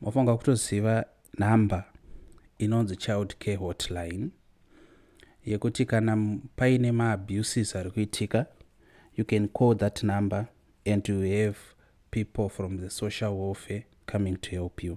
mafanga kutoziva number inonzi child care hotline yekuti kana paine maabuses ari kuitika you can call that number and you have people from the social welfare coming to help you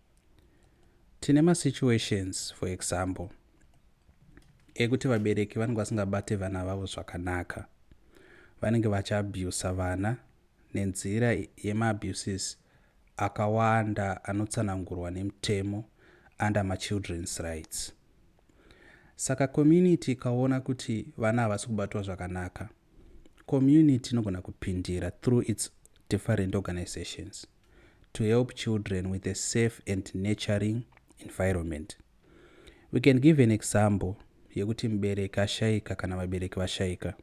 Tine ma situations for example ekuti vabereki vanenge vasingabate vana vavo zvakanaka. Vanenge vachiabusa vana nenzira yemaabuses akawanda anotsanangurwa nemutemo under machildren's rights. Saka community ikaona kuti vana havasi kubatwa zvakanaka, community inogona kupindira through its different organizations. to help children with a safe and nurturing environment. We can give an example yekuti mubereki ashaika kana vabereki vashaika.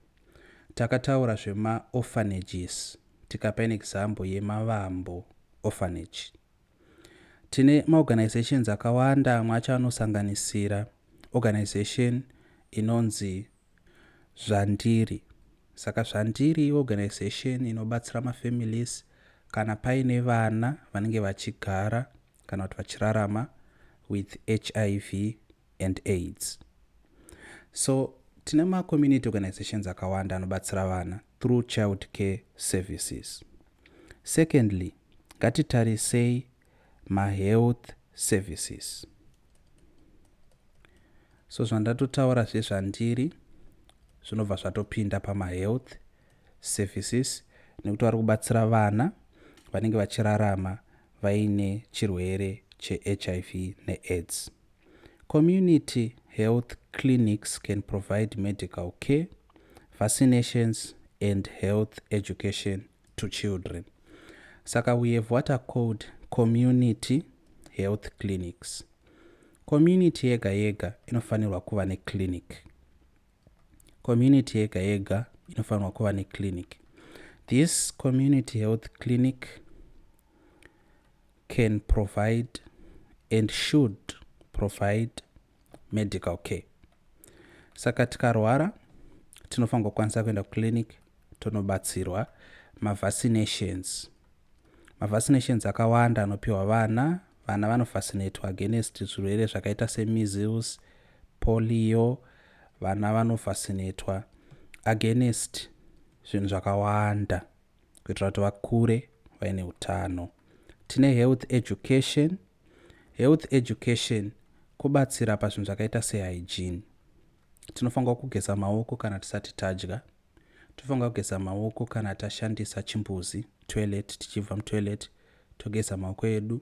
Takataura zvemaorphanages tikapa an example yemavambo orphanage. Tine maorganizations akawanda amwe acho anosanganisira organization inonzi Zvandiri. Saka Zvandiri iorganisation inobatsira mafamilies kana paine vana vanenge vachigara kana kuti vachirarama with hiv and aids so tine macommunity organizations akawanda anobatsira vana through child care services secondly ngatitarisei mahealth services so zvandatotaura zvezvandiri zvinobva zvatopinda pamahealth services nekuti vari kubatsira vana vanenge vachirarama vaine chirwere chehiv neaids community health clinics can provide medical care vaccinations and health education to children saka we have what are called community health clinics community yega yega inofanirwa kuva neclinic community yega yega inofanirwa kuva neclinic this community health clinic can provide and should provide medical care saka tikarwara tinofanirwa kukwanisa kuenda kuclinic tonobatsirwa mavaccinations mavaccinations akawanda anopiwa vana vana vanovacinatwa against zvirwere zvakaita semeasles polio vana vanovacinatwa against zvinhu zvakawanda kuitira kuti vakure vaine utano tine health education Health education kobatsira pazvinhu zvakaita sehygiene. Tinofanirwa kugeza maoko kana tisati tadya. Tinofanirwa kugeza maoko kana tashandisa chimbuzi, toilet, tichibva mutoilet, togeza maoko edu.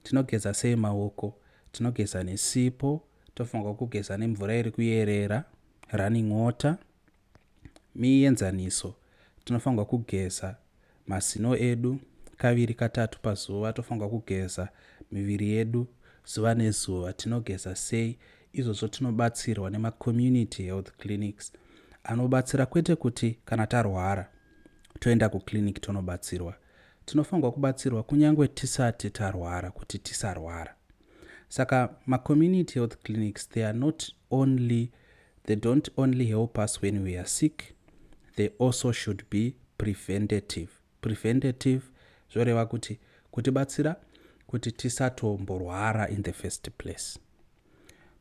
Tinogeza sei maoko? Tinogeza nesipo, tofanirwa kugeza nemvura iri kuyerera, running water. Mienzaniso, Tinofanirwa kugeza mazino edu kaviri katatu pazuva. Tofanirwa kugeza miviri yedu zuva nezuva. Tinogeza sei? Izvozvo tinobatsirwa nemacommunity health clinics anobatsira kwete kuti kana tarwara toenda kuclinic tonobatsirwa. Tinofanirwa kubatsirwa kunyange tisati tarwara kuti tisarwara. Saka macommunity health clinics they are not only They don't only help us when we are sick, they also should be preventative. Preventative zvoreva kuti kutibatsira kuti tisatomborwara in the first place.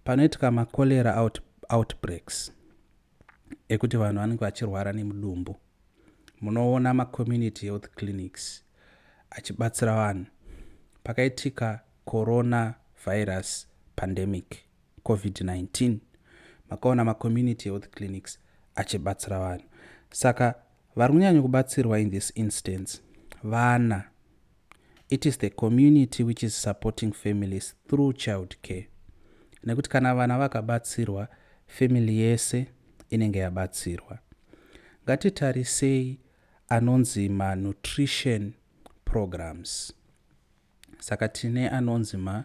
Panoitika macholera out, outbreaks ekuti vanhu vanenge vachirwara nemudumbu, munoona macommunity health clinics achibatsira vanhu. Pakaitika corona virus pandemic covid-19 makaona macommunity health clinics achibatsira vanhu saka vari kunyanya kubatsirwa in this instance vana it is the community which is supporting families through child care nekuti kana vana vakabatsirwa family yese inenge yabatsirwa ngatitarisei anonzi manutrition programs saka tine anonzi ma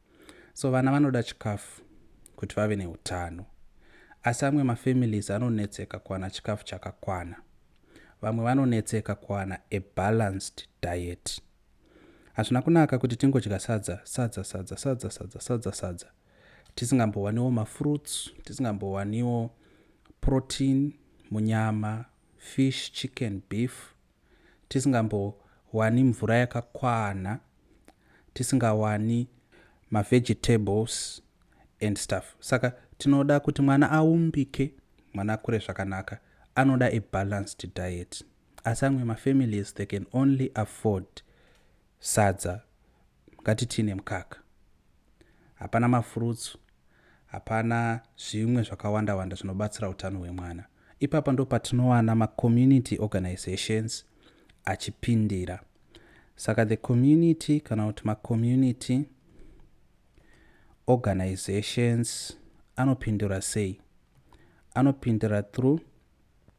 so vana vanoda chikafu kuti vave neutano asi amwe mafamilies anonetseka kuwana chikafu chakakwana vamwe vanonetseka kuwana a balanced diet hazvina kunaka kuti tingodya sadza sadza sadza sadza sadza sadza sadza tisingambowaniwo mafruits tisingambowaniwo protein munyama fish chicken beef tisingambowani mvura yakakwana, tisingawani mavegetables and stuff saka tinoda kuti mwana aumbike, mwana akure zvakanaka anoda a balanced diet. Asi amwe mafamilies they can only afford sadza Ngati tii nemukaka. Hapana mafurutsu, hapana zvimwe zvakawanda wanda zvinobatsira utano hwemwana. Ipapa ndopatinowana ma community organisations achipindira. Saka the community kana kuti ma community organisations anopindira sei? Anopindira through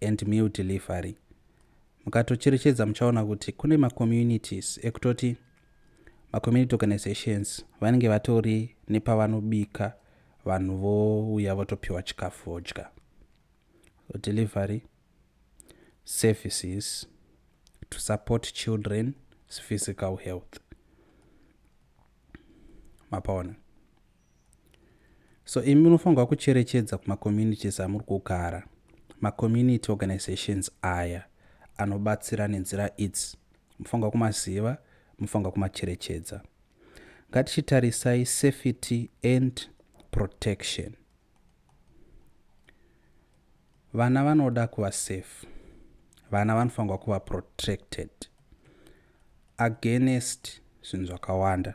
and meal delivery mukatocherechedza muchaona kuti kune macommunities ekutoti macommunity organizations vanenge vatori nepavanobika vanhu vouya votopiwa chikafu vodya delivery services to support children's physical health mapaona so imi munofanirwa kucherechedza kumacommunities amuri kugara macommunity organizations aya anobatsira nenzira idzi mufanirwa kumaziva mufanirwa kumacherechedza ngatichitarisai safety and protection vana vanoda kuva safe vana vanofanirwa kuva protected against zvinhu zvakawanda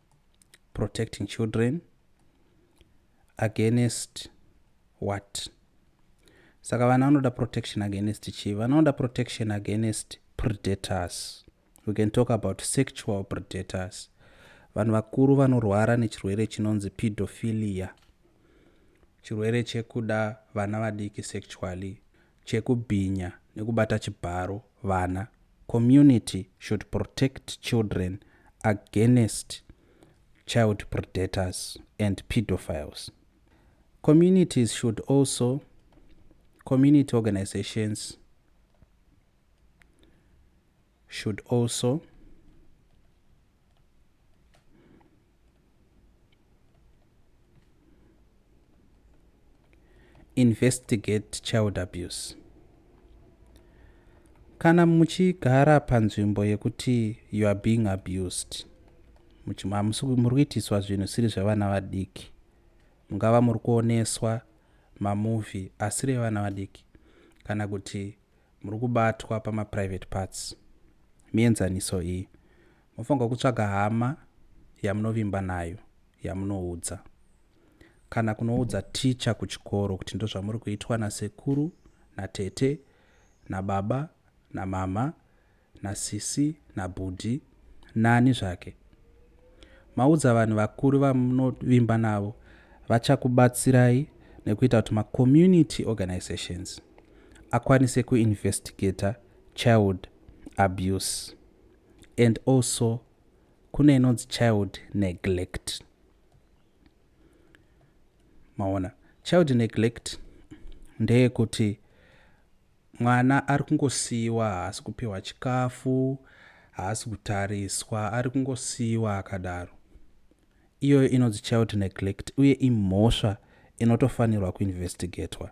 protecting children against what saka vana vanoda protection against chii vanoda protection against predators we can talk about sexual predators vanhu vakuru vanorwara nechirwere chinonzi pedophilia chirwere chekuda vana vadiki sexually chekubhinya nekubata chibharo vana, community should protect children against child predators and pedophiles. Communities should also, community organizations should also investigate child abuse kana muchigara panzvimbo yekuti you are being abused muri kuitiswa zvinhu siri zvevana vadiki mungava muri kuoneswa mamovhi asiri evana vadiki kana kuti muri kubatwa pamaprivate parts mienzaniso iyi Mofanirwa kutsvaga hama yamunovimba nayo yamunoudza. Kana kunoudza ticha kuchikoro kuti ndozvamuri kuitwa nasekuru, natete, nababa, namhamha, nasisi, nabhudhi, nani zvake. Maudza vanhu vakuru vamunovimba navo vachakubatsirai nekuita kuti macommunity organisations akwanise kuinvestigator child abuse. and also kune inonzi child neglect maona child neglect ndeyekuti mwana ari kungosiyiwa haasi kupiwa chikafu haasi kutariswa ari kungosiyiwa akadaro iyoyo inonzi child neglect uye imhosva inotofanirwa kuinvestigatwa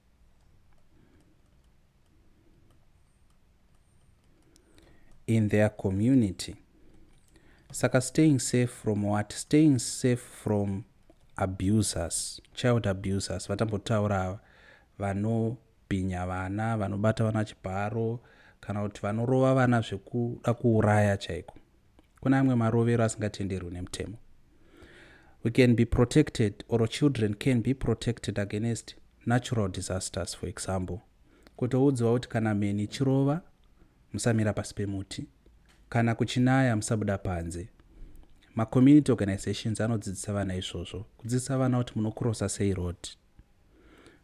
in their community saka staying safe from what staying safe from abusers child abusers vatambotaura ava vanobhinya vana vanobata vana chibharo kana kuti vanorova vana zvekuda kuuraya chaiko kuna amwe marovero asingatenderwi nemutemo we can be protected or children can be protected against natural disasters for example kutoudziwa kuti kana mheni ichirova musamira pasi pemuti kana kuchinaya musabuda panze macommunity organizations anodzidzisa vana izvozvo kudzidzisa vana kuti munokurosa sei road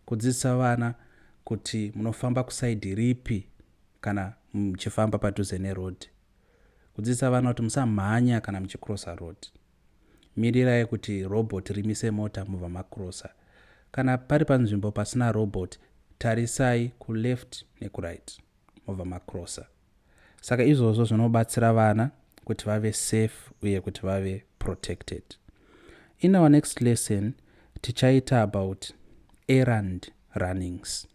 kudzidzisa vana kuti munofamba kusaidi ripi kana muchifamba padhuze neroad Kudzidzisa vana kuti musamhanya kana muchicrossa road. Mirirai kuti robot rimise mota mobva macrossa. Kana pari panzvimbo pasina robot, tarisai kuleft nekuright mobva macrossa. Saka izvozvo zvinobatsira vana kuti vave safe uye kuti vave protected. In our next lesson tichaita about errand runnings.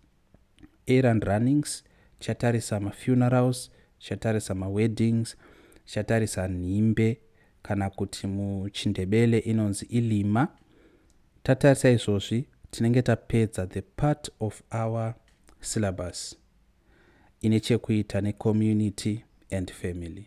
errand runnings, tichatarisa mafunerals, tichatarisa maweddings, tichatarisa nhimbe kana kuti muchindebele inonzi ilima. Tatarisa izvozvi tinenge tapedza the part of our syllabus ine chekuita necommunity and family.